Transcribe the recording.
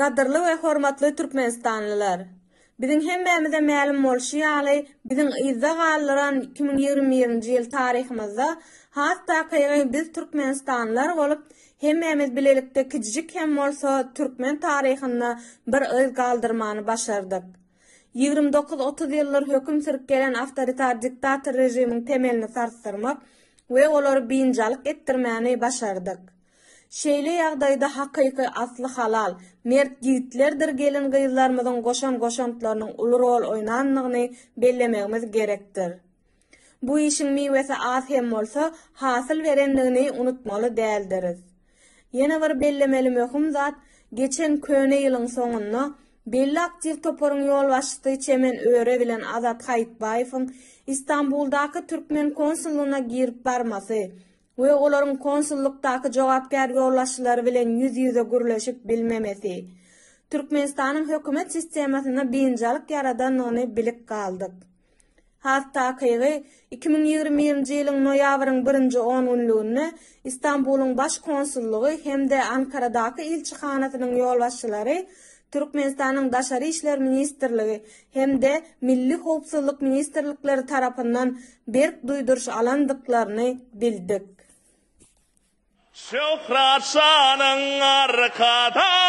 Gadyrly we hormatly türkmenistanlylar! Biziň hemmämize mälim bolşy ýaly, biziň yzda galdyran iki müň ýigrimi birinji ýyl taryhymyzda has takygy biz türkmenistanlylar bolup, hemmämiz bilelikde kijijik hem bolsa türkmen taryhynda bir yz galdyrmany başardyk. Ýigrimi dokuz, otuz ýyldyr höküm sürüp gelen awtoritar diktator režimiň temelini sarsdyrmak we olary biynjalyk etdirmäni başardyk. Şeýle ýagdaýda hakyky asly halal, mert ýigitlerdir gelin-gyzlarymyzyň goşan goşantlarynyň uly rol oýnandygyny bellemegimiz gerekdir. Bu işiň miwesi az hem bolsa, hasyl berendigini unutmaly däldiris. Ýene bir bellemeli möhüm zat, geçen köne ýylyň soňunda belli aktiw toparyň ýolbaşçysy Çemen Öre bilen Azat Haýytbaýewiň Istanbuldaky türkmen konsullygyna girip barmasy we olaryň konsullykdaky jogapkär ýolbaşçylary bilen ýüz-ýüze gürleşip bilmemesi. Türkmenistanyň hökümet sistemasynda biynjalyk ýaradandygyny bilip galdyk. Has takygy, iki müň ýigrimi birinji ýylyň noýabryň birinji on günlüginde Istanbulyň Baş konsullygy hem-de Ankaradaky ilçihanasynyň ýolbaşçylary Türkmenistanyň Daşary işler ministrligi hem-de Milli howpsuzlyk ministrlikleri tarapyndan Berk duýduryş alandyklaryny bildik. Şöhrat şanyň arkadag.